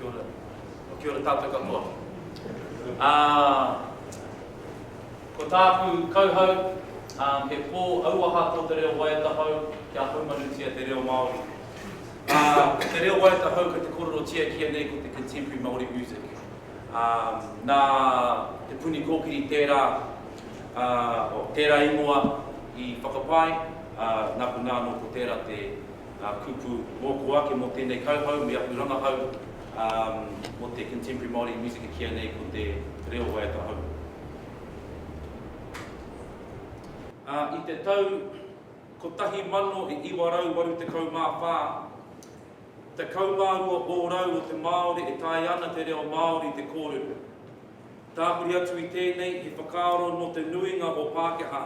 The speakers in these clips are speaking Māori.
Kia ora. Oh, kia ora tātou katoa. Uh, ko tāku kauhau, um, he pō auaha tō te reo waiata hau kia haumanutia te reo Māori. Uh, te reo waiata hau ka te kororo tia kia nei ko te contemporary Māori music. Uh, nā te puni kōkiri tērā, uh, o, tērā ingoa i whakapae, uh, nā ko nāno ko tērā te ngā kupu mōku ake mō tēnei kauhau me aku rangahau mō te Contemporary Māori Music e kīia nei ko te reo waiata hou. Ā, i te tau 1984, tekau mā rua ōrau o te Māori e taea ana te reo Māori te kōrero. Tāpiri atu i tēnei he whakaaro nō te nuinga o Pākehā.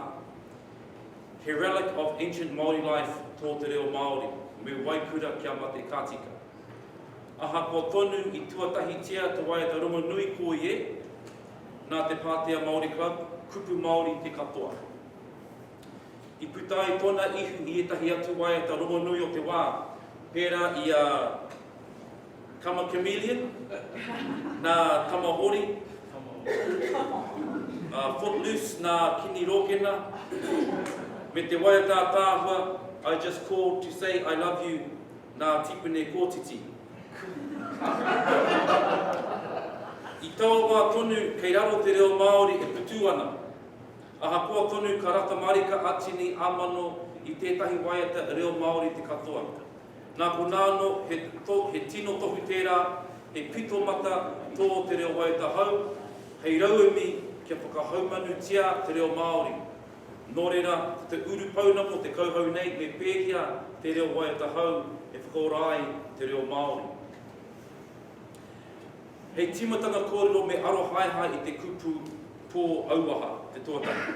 He relic of ancient Māori life tō te reo Māori, me waikura kia mate ka tika. Ahakoa tonu i tuatahitia te waiata rongonui koi e, nā te Pātea Māori Club, kupu Māori te katoa. I puta ai tōna ihu i ētahi atu waiata rongonui o te wā, pērā i a. Tama Chameleon, nā Tama Hori, a Footloose nā Kini Rōkena, me te waiata ataahua I just called to say I love you nā Tipene Kōtiti. I taua wā tonu kei raro te reo Māori e putū ana. Ahakoa tonu ka rata marika a Tini ā-mano i tētahi waiata reo Māori te katoa. Nā konā anō, he to, he tino tohu tērā, he pito mata tō te reo waiata hou, hei rauemi kia whakahaumanutia te reo Māori. Nō reira, ko te urupounamu o te kauhau nei me pēhia te reo waiata hou e whakaora ai te reo Māori. Hei tīmatanga kōrero me arohaehae i te kupu pō auaha, te tuatahi.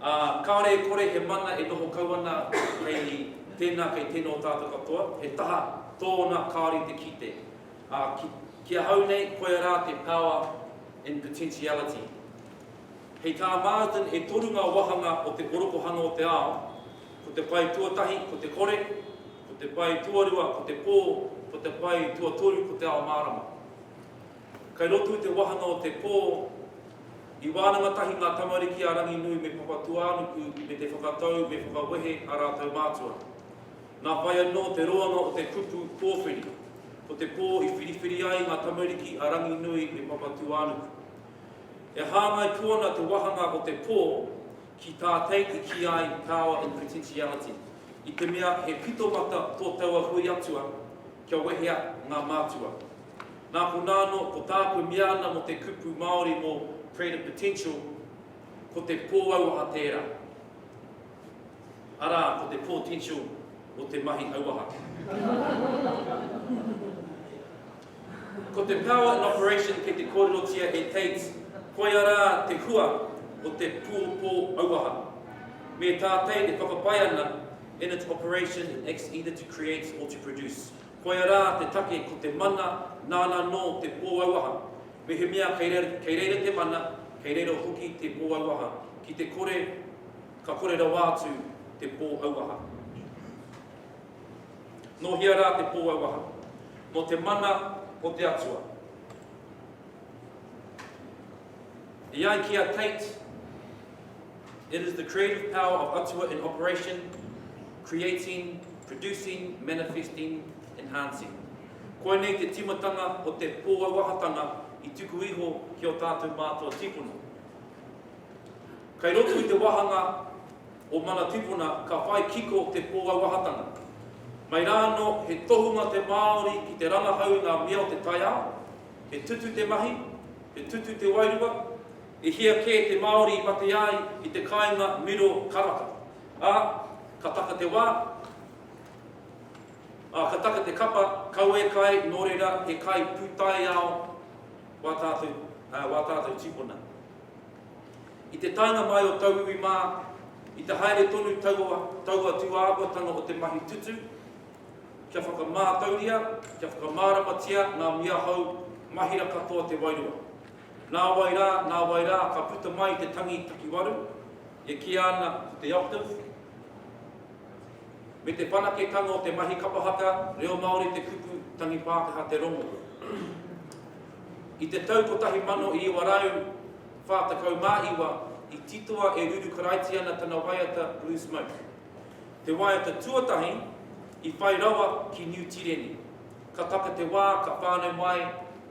Ā, kāore e kore he mana e noho kau ana hei tēnā kei tēnō tātou katoa, he taha tōna kāore i te kite. Ā, ki, ki ahau nei, koia rā te power in potentiality. Hei tā Martin e toru ngā wāhanga o te orokohanga o te ao, ko te pae tuatahi ko te kore, ko te pae tuarua ko te pō, ko te pae tuatoru ko te ao mārama. Kai roto i te wahanga o te pō, i wānanga tahi ngā tamariki a Ranginui me Papatūānuku me te whakatau me whakawehe a rātou mātua. Nā whai anō te roanga o te kupu pōwhiri, ko te pō i whiriwhiri ai ngā tamariki a Ranginui me Papatūānuku. E hāngai pū ana te wāhanga o te pō ki tā Tate i kī ai power in potentiality, i te mea he pitomata tō taua hui atua, Kia wehea ngā mātua. Nā konā anō, ko tāku e mea ana mō te kupu Māori mō Creative Potential, ko te pōauaha tērā, arā, ko te potential o te mahi auaha. Ko te power in operation kei te kōrerotia e Tate, koia rā te hua o te pōauaha. Me tātei e whakapae ana, In its operation it acts either to create or to produce. Koia rā te take ko te mana nāna nō te pōauaha. Mehemea kei reira te mana, kei reira hoki te pōauaha, ki te kore ka kore rawa atu te pōauaha. Nō hea rā te pōauaha? Nō te mana o te Atua. E ai ki a Tate, It is the creative power of Atua in operation, creating, producing, manifesting, enhancing. Koinei te timatanga o te pōauahatanga i tuku iho ki ō tātou mātua tīpuna. Kei roto i te wāhanga o Mana Tīpuna ka whai kiko te pōauahatanga. Mai rā anō, he tohunga te Māori ki te rangahau i ngā mea o te taiao, He tutu te mahi, he tutu te wairua, e hia kē te Māori i mate ai i te kāinga miro karaka. Ā, ka taka te wā, ā, ka taka te kapa, kawe kai, nō reira, he kai pūtaiao wā tātou, ā, wā tātou tīpuna. I te taenga mai o tauiwi mā, i te haere tonu taua, taua tūāhuatanga o te mahi tutu, Kia whakamātauria, kia whakamāramatia ngā mia hou, mahira katoa te wairua. Nāwai rā, nāwai rā, ka puta mai te tangi takiwaru, e kīia ana ko te octave, me te whanaketanga o te mahi kapa haka, reo Māori te kupu, tangi Pākehā te rongo. I te tau 1949, i titoa e Ruru Karaitiana tana waiata Blue Smoke. Te waiata tuatahi i whai rawa ki Niu Tireni. Ka taka te wā ka whānau mai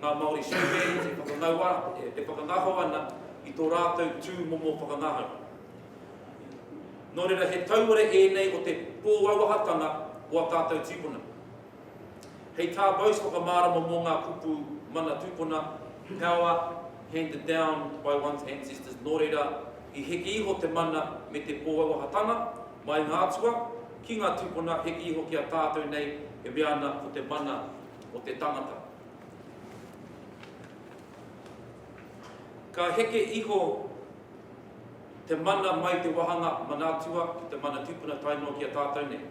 ngā Māori Showbands e whakangaua, e whakangaho ana i tō rātou tū momo whakangahau. Nō reira he tauira ēnei o te pōauahatanga o a tātou tīpuna. Hei tā Bose whakamārama mō ngā kupu mana tūpuna, power handed down by one's ancestors, nō reira, i heke iho te mana me te pōauahatanga, mai ngā atua, ki ngā tūpuna, heke iho ki a tātou nei e mea ana ko te mana o te tangata. Ka heke iho te mana mai te wāhanga mana atua ki te mana tūpuna tae noa ki a tātou nei.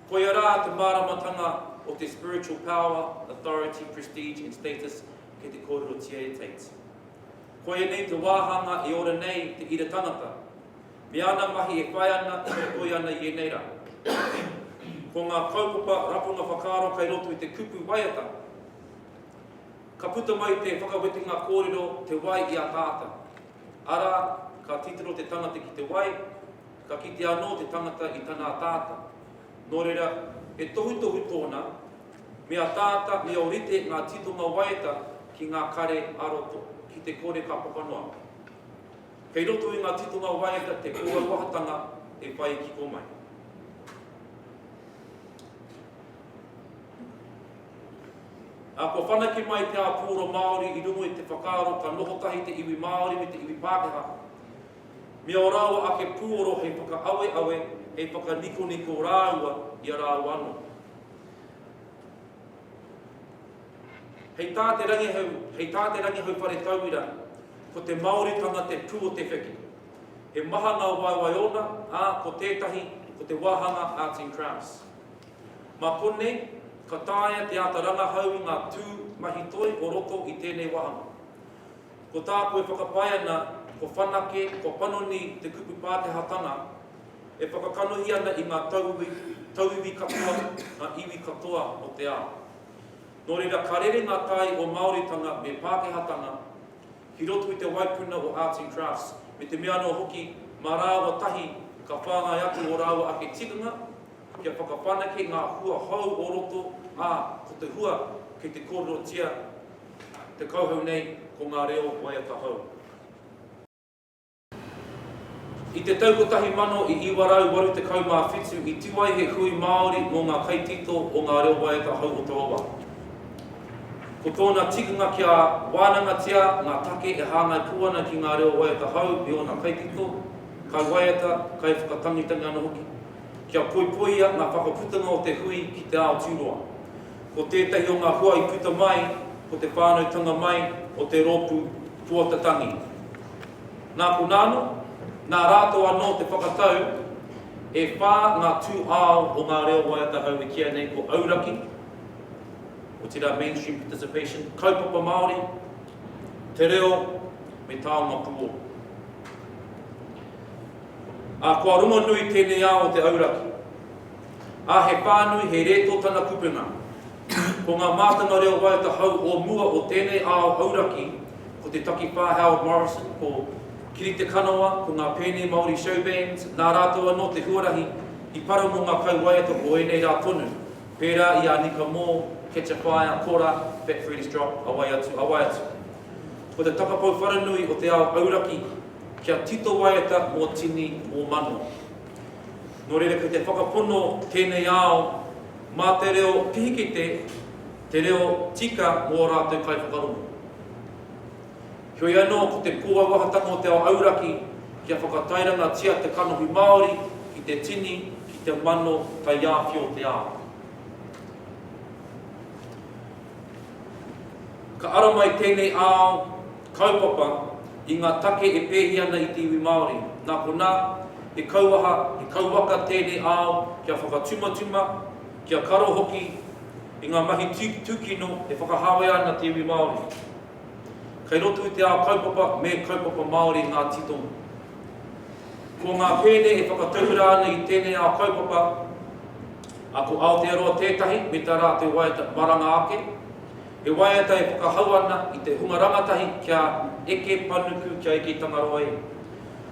Koia rā te māramatanga o te spiritual power, authority, prestige and status kei te kōrerotia e Tate. Koia nei te wāhanga e ora nei te ira tangata, me ana mahi e whai ana, e whaikoi ana i ēnei rā. Ko ngā kaupapa rapunga whakaaro kei roto i te kupu waiata, ka puta mai te whakawetenga kōrero te wai i ataata, arā, ka titiro te tangata ki te wai, Ka kite anō te tangata i tana ataata. Nō reira, he tohutohu tōna, me ataata, me ōrite ngā titonga waeta ki ngā kare ā-roto, ki te kore ka papa noa. Kei roto i ngā titonga waeta te kōauahatanga e whai kiko mai. Ā, kua whanake mai te āpōro Māori i runga i te whakaaro ka noho tahi te iwi Māori me te iwi Pākehā. me ō rāua ake pūoro hei whakaaweawe, hei whakanikoniko rāua i a rāua anō. Hei tā te rangihau, hei tā te rangihau whare tauira, ko te Māoritanga te pū o te wheke. He maha ngā waewae ōna, ā, ko tētahi, ko te wāhanga Arts and Crafts. Mā konei, ka taea te āta rangahau i ngā tū mahi toi o roto i tēnei wāhanga. Ko tāku e whakapae ana, ko whanake, ko panoni te kupu Pākehātanga e whakakanohi ana i ngā tauiwi, tauiwi katoa, ngā iwi katoa o te ao. Nō reira, ka rere ngā tai o Māoritanga me Pākehātanga ki roto i te waipuna o Arts and Crafts, me te mea anō hoki, mā rāua tahi ka whāngai atu ō rāua ake tikanga kia whakawhanake ngā hua hou o roto, ā, ko te hua kei te kōrerotia Te kauhau nei ko ngā reo waiata hou. I te tau 1987 i tū ai he hui Māori mō ngā kaitito o ngā reo waiata hou o taua wā. Ko tōna tikanga kia wānangatia ngā take e hāngai pū ana ki ngā reo waiata hou i ōna kaitito, kaiwaiata, kaiwhakatangitangi anō hoki. Kia poipoia ngā whakaputanga o te hui ki te ao tūroa. Ko tētahi o ngā hoa i puta mai ko te whānautanga mai o te rōpū Puata Tangi. Nā konā anō, nā rātou anō te whakatau e whā ngā tū ao o ngā reo waiata hou e kīa nei ko Auraki, otirā mainstream participation, Kaupapa Māori, Te Reo me Taonga Puoro. Ā, kua rongonui tēnei ao o te auraki. Ā, he pānui, he rētō tana kupenga. Ko ngā mātanga reo waiata hou o mua o tēnei ao auraki, ko te takipā Howard Morrison, ko Kiri Te Kanawa, ko ngā Pēnei Māori Show Bands, nā rātou anō te huarahi i para mō ngā kauwaiata o ēnei rā tonu, pērā i a Nika Moore, Catch a Fire, Kora, Fat Freddy's Drop, a wai atu, a wai atu. Ko te takapau wharanui o te ao auraki, kia tito waiata mō tini, mō mano. Nō reira kei te whakapono tēnei ao mā te reo pihikete te reo tika mō ō rātou kaiwhakarongo. Heoi anō, ko te kōauahatanga o te ao auraki kia whakatairangatia te kanohi Māori ki te tini, ki te mano taiāwhio o te ao. Ka ara mai tēnei ao, Kaupapa, i ngā take e pēhi ana i te iwi Māori. Nā konā, he kauaha, he kauwaka tēnei ao kia whakatumatuma, kia karo hoki i ngā mahi tūkino e whakahāwea ana te iwi Māori. Kei roto i te ao kaupapa me Kaupapa Māori ngā titonga. Ko ngā pēne e whakatauira ana i tēnei ao kaupapa, a ko Aotearoa tētahi me tā rātou waiata maranga ake, He waiata e whakahau ana i te hunga rangatahi kia eke panuku, kia eke i Tangaroa i.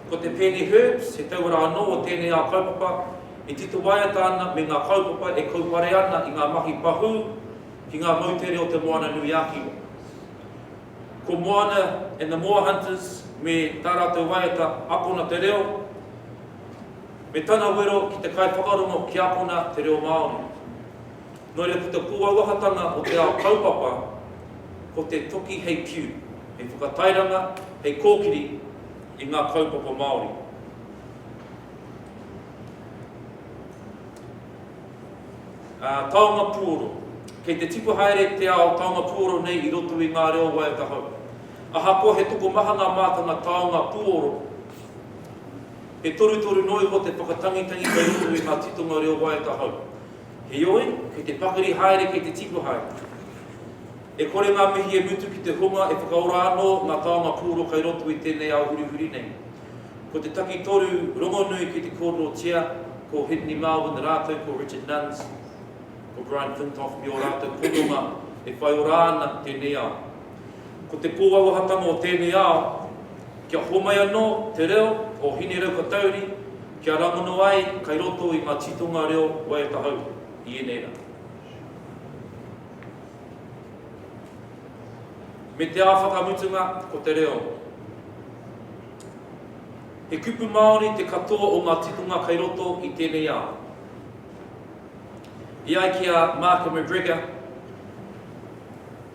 Ko te pēne Herbs, he tauira anō o tēnei ao kaupapa, e tito waiata ana me ngā kaupapa e kaupare ana i ngā mahi pahū ki ngā moutere o Te Moana-nui-a-Kiwa. Ko Moana and the Moa Hunters me tā rātou waiata Akona te Reo, me tana wero ki te kaiwhakarongo ki akona te reo Māori. Nō reira, ko te pūauahatanga o te ao kaupapa, ko te toki hei piu, hei whakatairanga, hei kōkiri i ngā kaupapa Māori. Ā, taonga puoro. Kei te tipu haere te ao taonga puoro nei i roto i ngā reo waiata hou. Ahakoa he tokomaha ngā mātanga taonga puoro, he torutoru noa iho te whakatangitangi kei roto i ngā titonga reo waiata hou. Heoi, kei te pakari haere, kei te tipu haere. E kore ngā mihi e mutu ki te hunga e whakaora anō ngā taonga pūoro kei roto i tēnei ao hurihuri nei. Ko te takitoru rongonui ki te kōrerotia ko Henry Marvin rātou ko Richard Nunns, ko Brian Flintoff me ō rātou hononga e whai ora ana tēnei ao. Ko te pōauahatanga o tēnei ao, kia homai anō te reo o Hineirauhatauri, Kia rangona ai kai roto i nga titonga reo waeatahau i enei ra. Me te a whakamutunga ko te reo. He kupu Maori te katoa o nga titonga kai roto i tenei ao. E ai ki a Mark McGregor,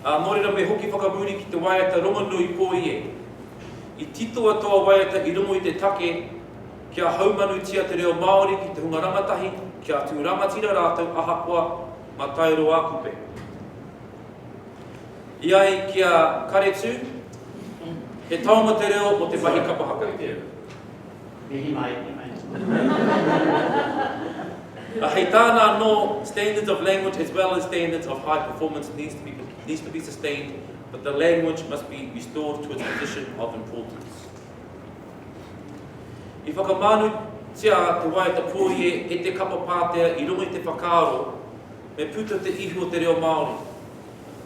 Ā, nō reira me hoki whakamuri ki te waiata rongonui pōie. I titoa taua waiata i rongo i te take kia haumanutia te reo Māori ki te hunga rangatahi kia tū rangatira rātou ahakoa mataeroa kupe. I ai ki a Karetū, he taonga te reo o te mahi kapa haka. Mihi mai, mihi mai. Ā, hei tāna anō, standards of language as well as standards of high performance needs to be, needs to be sustained, but the language must be restored to its position of importance. I whakamānu tia te waiata pōie e te kapa pātea i runga i te whakaaro me puta te ihu o te reo Māori.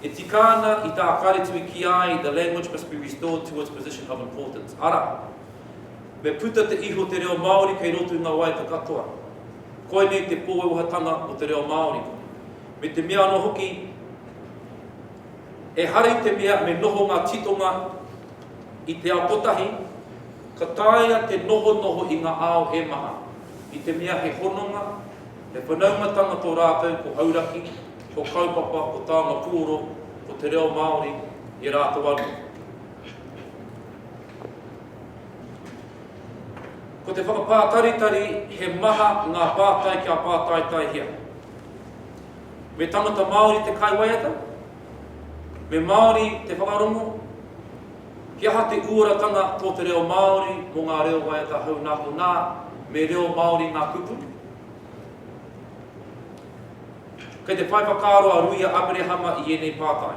E tika ana i tā Wharetui ki ai the language must be restored to its position of importance. Ara, Me puta te ihu o te reo Māori kei roto i ngā waiata katoa. Koinei te pōwewehatanga o te reo Māori. Me te mea anō hoki, ehara i te mea me noho ngā titonga i te ao kotahi, ka taea te nohonoho i ngā ao e maha, i te mea he hononga, he whanaungatanga tō rātou ko Hauraki, ko Kaupapa, ko Taonga Puoro, ko te reo Māori, e rātou anō. Ko te whakapātaritari he maha ngā pātai kia pātaitaihia. Me tangata Māori te kaiwaiata? Me Māori te whakarongo? He aha te uaratanga tō te reo Māori mō ngā reo waiata hou nā konā me reo Māori ngā kupu? Kei te whai whakaaro a Ruia Aperehama i ēnei pātai.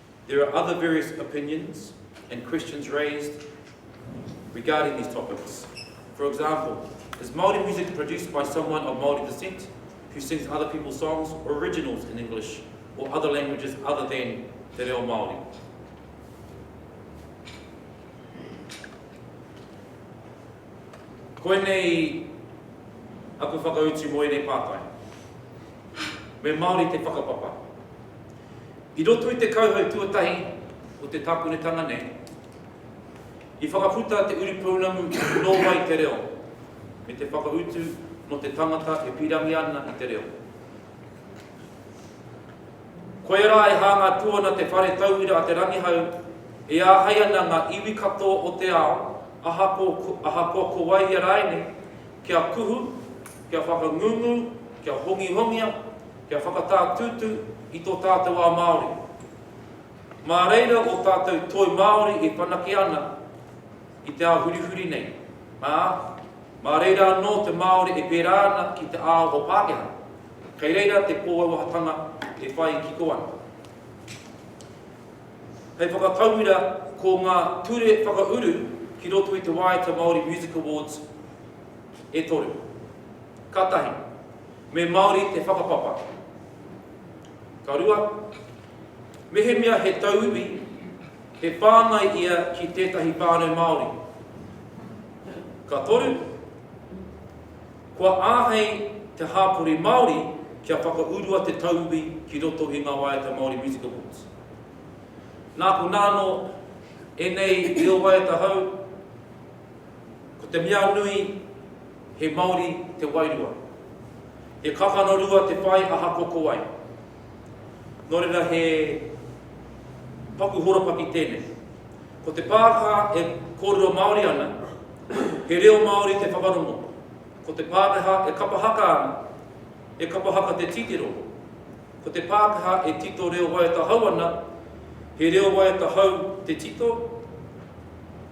There are other various opinions and questions raised regarding these topics. For example, is Māori music produced by someone of Māori descent who sings other people's songs or originals in English or other languages other than te reo Māori? Koinei aku whakautu mō ēnei pātai. Me Māori te whakapapa. I roto i te kauhau tuatahi o te tākonetanga nei, i whakaputa te uripounamu Nō Wai Te Reo? me te whakautu mō te tangata e pīrangi ana i te reo. Koia rā e hāngai pū ana te Whare Tauira a Te Rangihau e āhei ana ngā iwi katoa o te ao, ahakoa, ahakoa ko wai ia rāinei, kia kuhu, kia whakangungu, kia hongihongia, Kia whakatātūtū i tō tātou ao Māori. Mā reira ō tātou toi Māori e whanake ana i te ao hurihuri nei, ā, mā reira anō te Māori e pērā ana ki te ao o Pākehā. Kei reira te kōauahatanga e whai kiko ana. Hei whakatauira, ko ngā ture whakauru ki roto i te Waiata Māori Music Awards e toru. Ka tahi. Me Māori te whakapapa. Ka rua, mehemea he tauiwi, he whāngai ia ki tētahi whānau Māori. Ka toru, kua āhei te hāpori Māori kia whakaurua te tauiwi ki roto i ngā waiata Māori Music Awards. Nāku nāno, ēnei reo waiata hou, Ko te mea nui, he Māori te wairua. He kakano rua te whai aha ko ko wai. Nō reira he paku horopaki tēnei. Ko te pāka e kōrero Māori ana, he reo Māori te whakarongo. Ko te Pākehā e kapa haka ana, e kapa haka te titiro. Ko te Pākehā e tito reo waiata hou ana, he reo waiata hou te tito?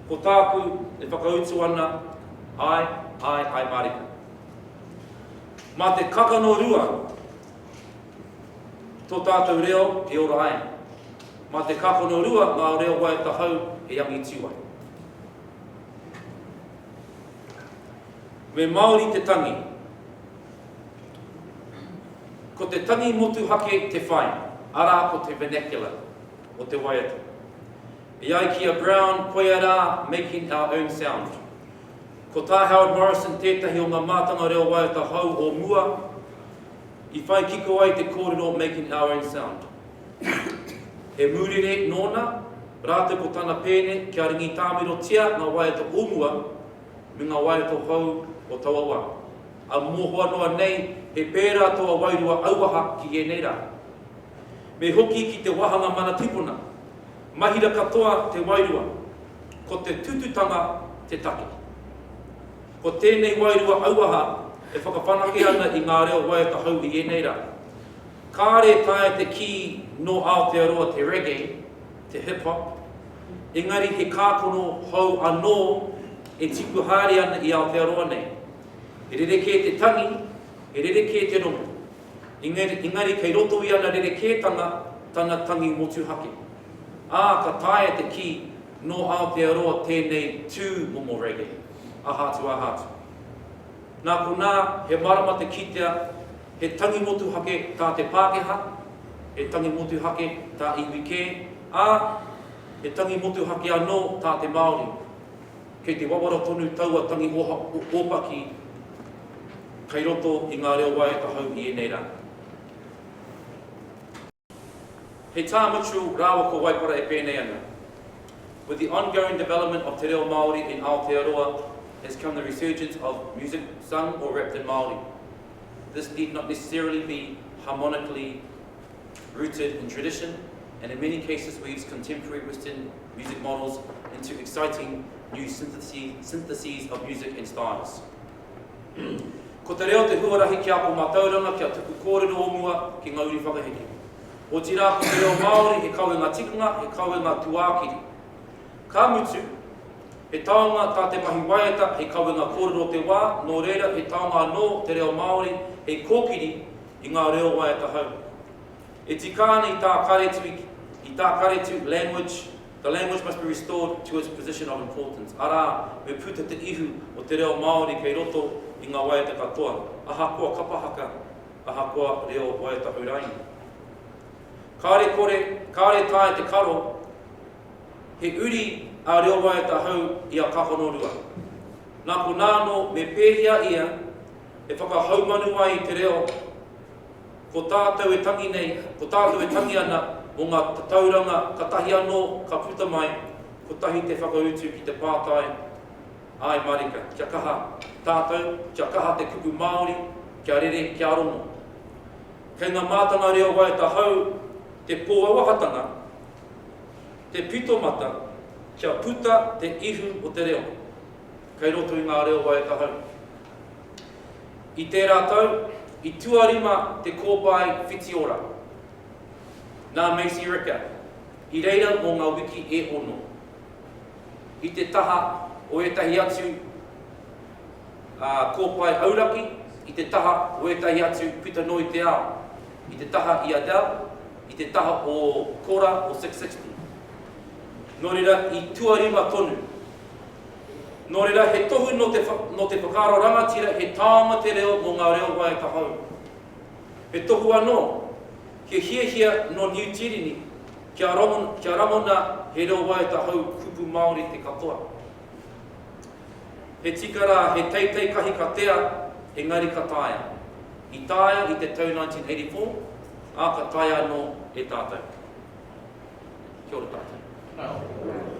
Ko tāku e whakautu ana, āe, āe, āe mārika. Mā te kakano rua tō tātou reo e ora ai. Mā te kakano rua ngā reo waiata hou e angitu ai. Me Māori te tangi. Ko te tangi motuhake te whai, arā ko te vernacular o te waiata. E ai ki a Brown, koia rā, making our own sound. Ko tā Howard Morrison tētahi o ngā mātanga reo waiata hou o mua i whai kiko ai te kōrero making our own sound. He mūrere nōna, rātou ko tana pēne kia ringitāmirotia ngā waiata o mua me ngā waiata hou o taua wā. A mohoa noa nei, he pērā tō wairua auaha ki ēnei rā. Me hoki ki te wāhanga mana tipuna. Mahira katoa te wairua, ko te tututanga te take. Ko tēnei wairua auaha e whakawhanake ana i ngā reo waiata hou i ēnei rā. Kāre e taea te kī nō Aotearoa te reggae, te hip hop, engari he kākano hou anō e tipu haere ana i Aotearoa nei. He rerekē te tangi, he rerekē te rongo. Engari kei roto i ana rerekētanga tana tangi motuhake. Ā, ka taea te kī, nō Aotearoa tēnei tū momo reggae, aha atu aha atu. Nā konā, he mārama te kitea he tangi motuhake tā te Pākehā, he tangi motuhake tā iwi kē, ā, he tangi motuhake anō tā te Māori. Kei te wawara tonu taua tangi ōpaki kei roto i ngā reo waea tahau i ēnei rā. He tā Mitchell rāua ko Waipara e pēnei ana, With the ongoing development of te reo Māori in Aotearoa has come the resurgence of music sung or rapped in Māori. This need not necessarily be harmonically rooted in tradition and in many cases weaves contemporary Western music models into exciting new syntheses of music and styles. Ko te reo te huarahi ki a ko mātauranga ki a tuku kōrero o mua ki ngā uri whakaheke. Otirā ko te reo Māori he kawenga tikanga, he kawenga tuākiri. Ka mutu, he taonga tā te mahi waiata hei kawenga kōrero o te wā, nō reira he taonga anō te reo Māori hei kōkiri i ngā reo waiatahau. E tika ana i tā Karetu, i tā Karetu, language, the language must be restored to its position of importance, arā, me puta te ihu o te reo Māori kei roto i ngā waiata katoa, ahakoa kapa haka, ahakoa reo waiatahau rānei. Kāre kore, kāre taea te karo, he uri a reo waiatahau i a Kahonorua. Nā konā anō, me pēhea ia, e whakahaumanu ai te reo ko tātou e tangi nei, ko tātou e tangi ana mō ngā tatauranga katahi anō ka puta mai, kotahi te whakautu ki te pātai, Āe mārika, kia kaha tātou, kia kaha te kupu Māori, kia rere, kia rongo. Kei ngā mātanga reo waiata hou te pōauahatanga, te pitomata kia puta te ihu o te reo kei roto i ngā reo waiata hou. I tērā tau, i tuarima te kōpae Whitiora nā Macy Ricker i reira mō ngā wiki e ono, i te taha o ētahi atu kōpae auraki, i te taha o ētahi atu puta noa i te ao, i te taha i Adele, i te taha o Kora o Six Sixty. Nō reira, i tuarima tonu. Nō reira, he tohu nō te, nō te whakaaro rangatira he taonga te reo mō ngā reo waiata hou. He tohu anō, kia hiahia nō Niu Tīreni kia, kia rangona he reo waiata hou kupu Māori te katoa. He tika rā, he teitei kahi ka tea, engari ka taea. I taea i te tau 1984, ā, ka taea anō e tātou. Kia ora tātou. Kia ora.